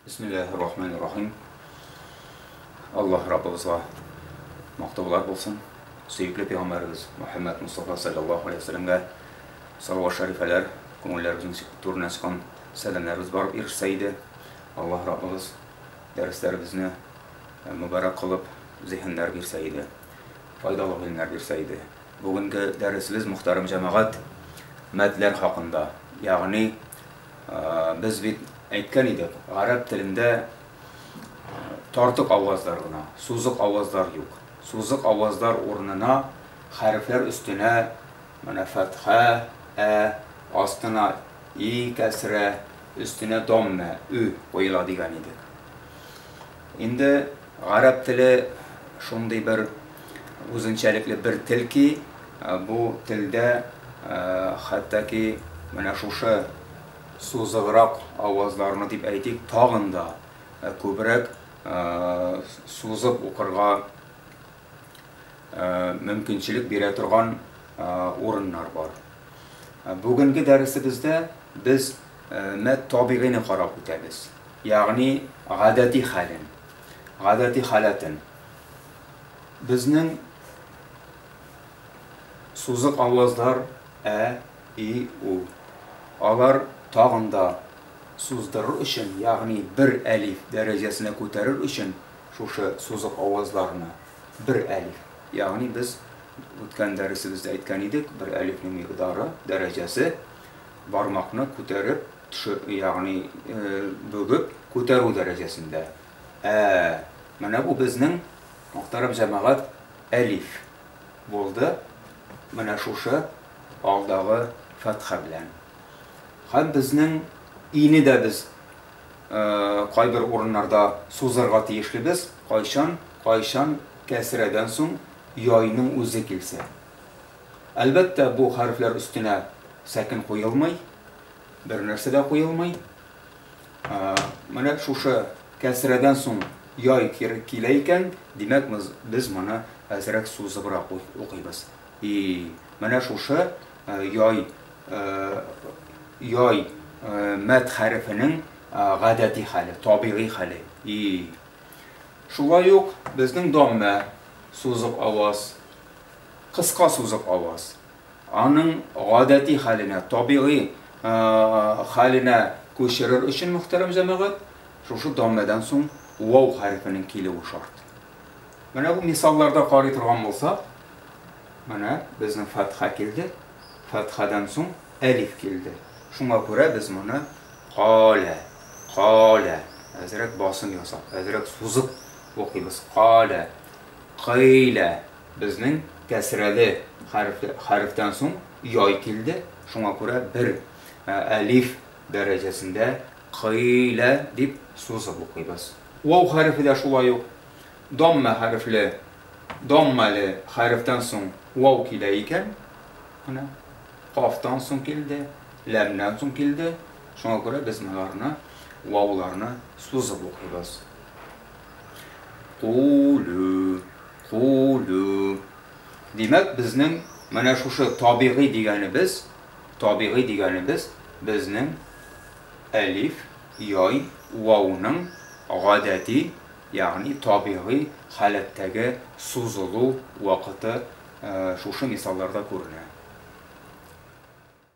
Бисмиллахи рахмани рахим. Аллаһ Раббыбызга мактаулар булсын. Сөекле пәйгамбәрбез Мөхәммәд Мустафа саллаллаһу алейһи ва сәлламгә салават шәрифәләр, күңелләребезнең турына чыккан сәламнәребез барып ирешсә иде. Аллаһ Раббыбыз дәресләребезне мөбарәк кылып, зиһеннәр бирсә иде, файдалы гыйлемнәр бирсә иде. Бүгенге дәресебез, мөхтәрәм җәмәгать, мадләр хакында. Ягъни, без бит әйткән идек, гарәп телендә тартык авазлар гына, сузык авазлар юк. Сузык авазлар урынына хәрефләр өстенә менә фәтхә, ә, астына и, кәсрә, өстенә доммә, ө, куела дигән идек. Инде гарәп теле шундый бер үзенчәлекле бер тел ки, бу телдә хәтта ки менә шушы сузыграк авазларны дип әйтик, тагын да күбрәк сузып укырга мөмкинчелек бирә торган урыннар бар. Бүгенге дәресебездә без мәт табигыйны карап үтәбез. Ягъни гадәти хәлен, гадәти халәтен. Безнең сузык авазлар ә, и, у. Алар тагын да суздырыр өчен, ягъни бер әлиф дәрәҗәсенә күтәрер өчен Шушы сузык авазларны бер әлиф, ягъни без үткән дәресебездә әйткән идек, бер әлифнең микъдары, дәрәҗәсе, бармакны күтәреп, ягъни бөгеп күтәрү дәрәҗәсендә. Ә, менә бу безнең, мөхтәрәм җәмәгать, әлиф булды, менә шушы алдагы фәтха белән. Һәм безнең ине дә без Кайбер урыннарда сузырга тиешлебез, кайчан, кайчан кәсрәдән соң яйның үзе килсә. Әлбәттә, бу хәрефләр өстенә сәкен куелмый, бернәрсә дә куелмый. Менә шушы кәсрәдән соң яй килә икән, димәк, без моны әзрәк сузыбрак укыйбыз. И, менә шушы яй, яй мәд хәрефенең гадәти хәле, табигый хәле. И. Шулай ук безнең доммә, сузык аваз, кыска сузык аваз. Аның гадәти хәленә, табигый хәленә күчерер өчен, мөхтәрәм җәмәгать, шушы доммәдән соң вау хәрефенең килүе шарт. Менә бу мисалларда карый торган булсак, менә безнең фәтха килде, фәтхадан соң әлиф килде. Шуңа күрә без моны калә, калә, әзрәк басым ясап, әзрәк сузып укыйбыз. Калә, кыйлә. Безнең кәсрәле хәреф, хәрефтән соң яй килде. Шуңа күрә бер әлиф дәрәҗәсендә кыйлә дип сузып укыйбыз. Вау хәрефе дә шулай ук даммә хәрефле, даммәле хәрефтән соң вау килә икән. Менә кафтан соң килде, ләмнән соң килде. Шуңа күрә без моңарны, вауларны сузып укыйбыз. Кулү, кулү. Димәк, безнең менә шушы табигый дигәнебез, табигый дигәнебез безнең Әлиф, яй, вауның гадәти, ягъни табигый халәттәге сузылу вакыты шушы мисалларда күренә.